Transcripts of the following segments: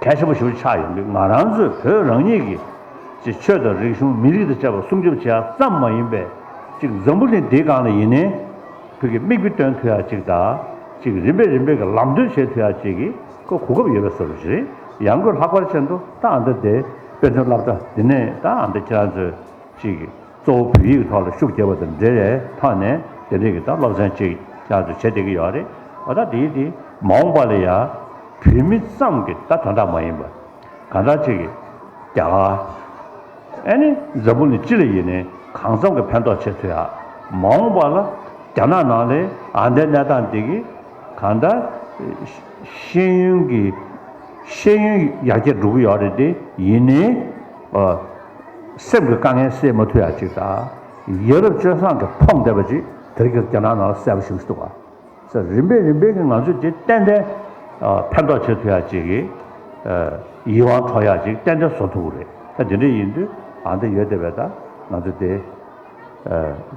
གལ་ཆེན་པོ་ཞིག་ཆགས་ཡོད་འདུག་ང་རང་ཚོས་བོད་རང་ཉིད་ཀྱི་ཀྱི་ཆོས་དང་རིག་གཞུང་མི་རིགས་དང་བཅས་པ་སྲུང་སྐྱོབ་བྱེད་ཡ་ཙམ་མ་ཡིན་པའི་ཅིག་འཛམ་བུ་གླིང་འདིའི་སྒང་ལ་ཡིན་ནའི་བོད་ཀྱི་དམིགས་དཔེ་སྟོན་ཐུ་ཡ་ཅིག་དང་ཅིག་རིམ་པས་རིམ་པས་ཀྱི་ལམ་སྟོན་བྱེད་ཐུ་ཡ་ཅིག་གི་གོ་གོ་སྐབས་ཡོད་པས་སོ་རེད་ཡང་སྒོས་ལྷག་པར་ཆེན་དུ་ད་ཨ་མདོ་དེ་དཔེ་མཚོན་བསླབ་གྲྭ་འདི་ནས་ད་ཨ་མདོ་ཁྱེད་རང་ཚོས་ཅིག་གཙོ་བོ་བོད་ཡིག་གི་ཐོག་ལ་ཤུགས་རྒྱབ་པ་དང་འབྲེལ་བའི་ཐོག་ནས་དེ་འབྲེལ་གྱི་དང་སློབ་ཚན་ཅིག་ཅར་དུ་བྱེད་བསྡད་ཀྱི་ཡོད་རེད། ད་ལྟ་དེའི་དེ་མ་འོངས་པ་ལ་ཡང་བོད་མི་ཙམ་གྱི་ད་དོན་དག་མ་ཡིན་པར། གང་དག་ཅིག་གིས་རྒྱ་གར། ཨེ་ནི་འཛམ་བུ་ནི་སྤྱི་ལ་ཡིན་ནས་གང་འཚམ་གྱི་ཕན་ཐོགས་བྱེད་ཚུལ་ཡང་མ་འོངས་པ་ལ་རྒྱ་ནག་ནང་ལའི་ཨང་དའི་གནས་སྟངས་དེ་གིས་གང་དག་ཤེས་ཡོན་གྱི་ཤེས་ཡོན་ཡར་རྒྱས་འགྲོ་གི་ཡོད་རེད་དེ་ཡིན་ནས། སེམས་ཀྱི་དཀའ་ངལ་སེལ་མ་ཐུབ་ཡག་ཅིག་དང། ཡ་རབས་སྤྱོད་བཟང་གི་ཕོངས་བསྡད་པ་ཅིག་དེ་རིང་གི་རྒྱ་ནག་ནང་ལ་གསལ་པོ་ཞིག་འདུག་བ། སེམས་རིམ་པས་རིམ་པས་ཀྱི་ང་ཚོས་དེ་ཏན་ཏན་ཕན་ཐོགས་བྱེད་ཐུབ་ཡག་ཅིག་གི། ཡིད་དབང་འཕྲོག་ཡག་ཅིག་ཏན་ཏན་བཟོ་ཐུབ་ཀྱི་རེད། ད་དེ་འདྲ་ཡིན་དུས་ཨང་དེ་ཡོད་བསྡད་པས་ད་ང་ཚོ་དེ།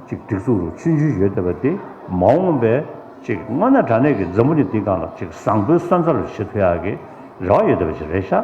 ཅིག་སྒྲིག་འཛུགས་རུ་ཆུད་རྒྱུ་ཡོད་བསྡད་པ་དེ་མ་འོངས་པའི་ཅིག་སྔོན་ན་དྲ་གནས་ཀྱི་མཛའ་མོ་ནི་འདི་གང་ལ་ཅིག་བཟང་པོའི་ས་མཚམས་རུ་བྱེད་ཐུབ་ཡག་གི་རེ་བ་ཡོད་བསྡད་པ་ཅིག་རེད་ཤག།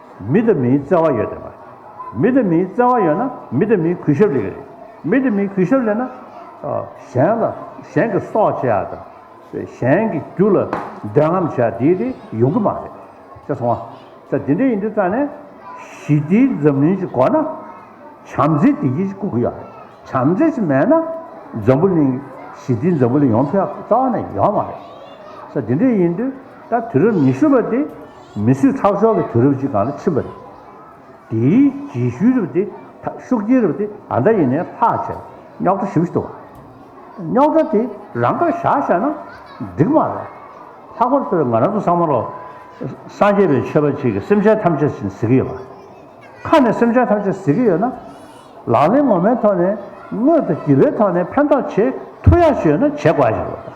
མི་དང་མིའི་བརྩེ་བ་ཡོད་དགོས་པ། མི་དང་མིའི་བརྩེ་བ་ཡོད་ན་མི་དང་མིའི་གུས་ཞབས་ལེན་གྱི་རེད། མི་དང་མིའི་གུས་ཞབས་ལེན་ན། གཞན་ལ་གཞན་གྱི་སྲོག་བཅད་ཡ་དང། གཞན་གྱི་རྒྱུ་ལ་འདོད་རྔམ་བྱེད་ཡ་དེ་དེ་ཡོང་གི་མ་རེད། ཅེས་གསུངས། ད་དེ་འདྲ་ཡིན་དུས་རྩ་ནས། ཞི་བདེའི་འཛམ་གླིང་ཞིག་དགོས་ན། བྱམས་བརྩེ་བདེ་སྐྱིད་ཞིག་དགོས་ཀྱི་ཡོད་རེད། བྱམས་བརྩེ་ཞིག་མེད་ན། འཛམ་བུ་གླིང། ཞི་བདེའི་འཛམ་བུ་གླིང་ཡོང་ཐབས་རྩ་བ་ནས་ཡོད་མ་རེད། ད་དེ་འདྲ་ཡིན་དུས་ད་དུས་རབས་ཉི་ཤུ་པ་དེ། མི་གསོད་ཁྲག་སྦྱོར་གྱི་དུས་རབས་ཤིག་གང་ལ་ཕྱིན་པ་རེད། དེའི་རྗེས་ཤུལ་རབས་དེ་ཤུགས་རྐྱེན་རབས་དེ་ད་ལྟ་ཡིན་ནའི་ལྷག་བྱས་རྙོག་དྲ་ཞིག་བཟོ་བ་རེད། རྙོག་དྲ་དེ་རང་དགར་བཞག་བཞག་ན་འགྲིག་མ་རེད། ལྷག་པར་དུ་ང་རང་ཚོ་སངས་མ་ལོ་སངས་རྒྱས་པའི་ཆོས་པ་ཅིག་གིས་སེམས་ཅན་ཐམས་ཅད་བཞིན་གཟིགས་ཀྱི་ཡོད་པ། ཁ་ནས་སེམས་ཅན་ཐམས་ཅད་གཟིགས་ཀྱི་ཡོད་ན། ལག་ལེན་ངོ་མའི་ཐོག་ནས་དངོས་དང་བརྒྱུད་པའི་ཐོག་ནས་ཕན་ཐོགས་བྱེད་ཐུབ་ཡག་ཤོས་ཡོད་ན་བྱེད་དགོས་ཡག་ཤོས་རེད།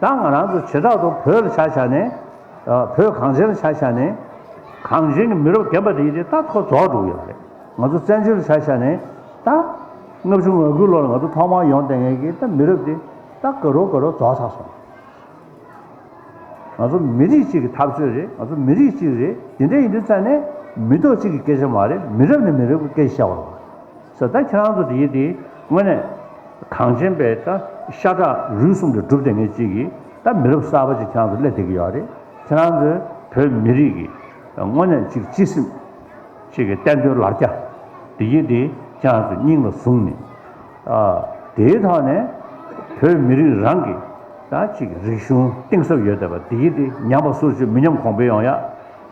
ད་ང་རང་ཚོ་བྱེ་བྲག་ཏུ་བོད་ལ་ཆ་བཞག་ནས། བོད་གངས་ཅན་ལ་ཆ་བཞག་ནས། གངས་ཅན་གྱི་མི་རབས་རྒན་པ་དེ་ཡིས་དེ་ད་ཐོག་རྫོགས་འགྲོ་གི་ཡོད་རེད། ང་ཚོ་བཙན་བྱོལ་ལ་ཆ་བཞག་ནས། ད། ལྔ་བཅུ་ང་དགུའི་ལོ་ལ་ང་ཚོ་ཐོག་མར་ཡོང་ལྟས་ངན་གྱི་ད་མི་རབས་དེ། ད་དགའ་རོགས་དགའ་རོགས་རྫོགས་ཚར་སོང། ང་ཚོ་མི་རིགས་གཅིག་གི་འཐབ་རྩོད་རེད་ང་ཚོ་མི་རིགས་གཅིག་རེད་དེ་འདྲ་ཡིན་དུས་ཙང་ནས། མི་ཐོག་གཅིག་གི་སྐད་ཆ་མ་རེད་མི་རབས་ནས་མི་རབས་ཀྱི་སྐད་ཆ་བཤད་བར། ཟེར་ད་ཁྱེད་རང་ཚོ་དེའི་དེའི་ངོས་ནས། གངས་ཅན་པའི་ད་ཤ་ཁྲག་རུས་གསུམ་དེ་སྒྲུབ་ཐེབས་མཁན་ཅིག་གིས་ད་མི་རབས་གསར་པ་ཅིག་ཁྱེད་རང་ཚོ་སླེབས་བསྡད་ཀྱི་ཡོད་རེད། ཁྱེད་རང་ཚོས་བོད་མི་རིགས་ཀྱི་ངོས་ནས་ཅིག་སྤྱི་སེམས། ཅིག་གི་བསྟན་དོན་ལ་རྒྱ། དེའི་དེ་ཁྱེད་རང་ཚོས་སྙིང་ལ་བཟུང་ནས། དེའི་ཐོག་ནས། བོད་མི་རིགས་རང་གི་ད་ཅིག་རིག་གཞུང་གཏིང་ཟབ་ཡོད་བསྡད་པ་དེའི་དེ་ཉམས་པ་སོར་ཆུད་མི་ཉམས་གོང་འཕེལ་ཡོང་ཡ།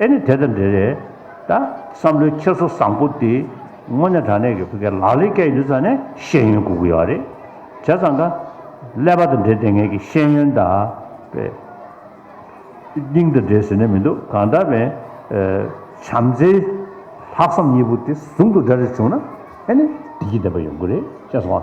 ཨེ་ནི་དེ་དང་འབྲེལ་རེད་ད། བསམ་བློའི་འཁྱེར་སོ་བཟང་པོ་འདི། དངོས་གནས་དྲང་གནས་ཀྱི་བོད་སྐད་ལག་ལེན་སྐྱེལ་ཡུལ་ཙམ་ནས་ཤེས་ཡོན་སྒུག་གི་ཡོད་རེད། བྱས་ཙང་ད། ཀླད་པ་དང་འབྲེལ་དེ་ངེད་ཀྱི་ཤེས་ཡོན་ད། པའི། སྙིང་དང་འབྲེལ་ཟེར་ནས་མི་འདུག་གང་ལྟར། བན་བྱམས་བརྩེ། ལྷག་བསམ་གཉིས་པོ་དེ་ཟུང་དུ་སྦྲེལ་རེ་བྱུང་ན། ཨེ་ནི། བདེ་སྐྱིད་ལྡན་པ་ཡོང་གི་རེད། བྱས་ཙང།